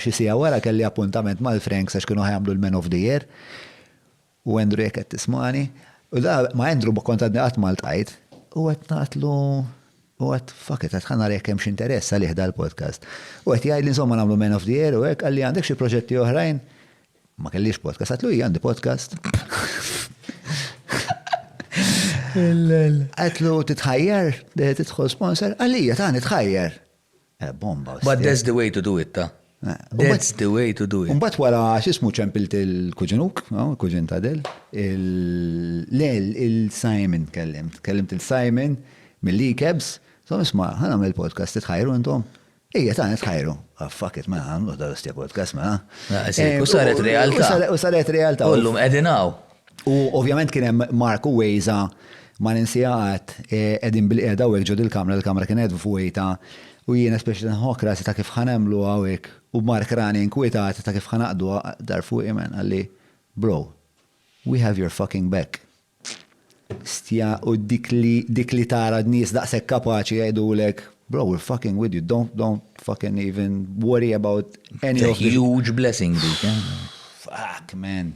Xi siegħa wara kelli appuntament mal-Franks għax kienu ħa jagħmlu l-Man of the Year, u Andrew jekk qed tismagħni, u da ma' Andrew ma kont għadni qatt ma ltqajt, u qed ngħidlu, u għedt fuck it, ħa nara jekk hemmx interess għalih dal-podcast. U qed jgħidli insomma nagħmlu Man of the Year u hekk, qalli għandek xi proġetti oħrajn? Ma kellix podcast, għedtlu ija għandi podcast. Għedtlu titħajjar, tidħol sponsor, għalija tani tħajjar. Bomba. But that's the way to do it, ta. That's the way to do it. Umbat wara xismu ċempilt il-kuġinuk, il-kuġin ta' del, il-Simon kellimt, kellimt il-Simon mill-li kebs, so nisma, ħana mill podcast tħajru intom. Ija ta' nitħajru. Ah, fuck it, ma' għamlu da' l-istja podcast ma' għamlu. U saret realta. U saret realta. U l-lum edinaw. U ovvjament kien hemm Marku Wejza ma ninsiha qatt qegħdin bil-qiegħda hawnhekk ġod il-kamra, il-kamra kienet vojta u jien especially nħokk rasi ta' kif ħanagħmlu hawnhekk u Mark rani inkwitat ta' kif ħanaqduha dar fuqi man qalli, Bro, we have your fucking back. Stja u dik li dik li tara nies daqshekk kapaċi jgħidulek, Bro, we're fucking with you, don't don't fucking even worry about any of the. Huge blessing dik. Fuck man.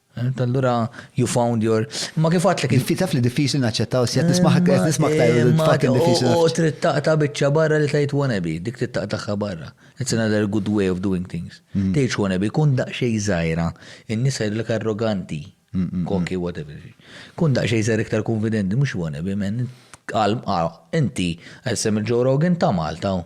Għedt allura you found your. Imma kif għedtlek. Inti taf li diffiċli naċċettaw s-sjed nisma' qed nisma' aktar fucking diffiċli. U trid taqta' biċċa barra li tgħid wanna be, dik trid taqtagħha barra. It's another good way of doing things. Tgħidx wanna be, kun daqsxejn żgħira, in-nies jgħidulek arroganti, cocky, whatever. Kun daqsxejn żgħira iktar kunfidenti, mhux wanna be man. Qal, ah, inti, isem il-Joe Rogan ta' Malta hu.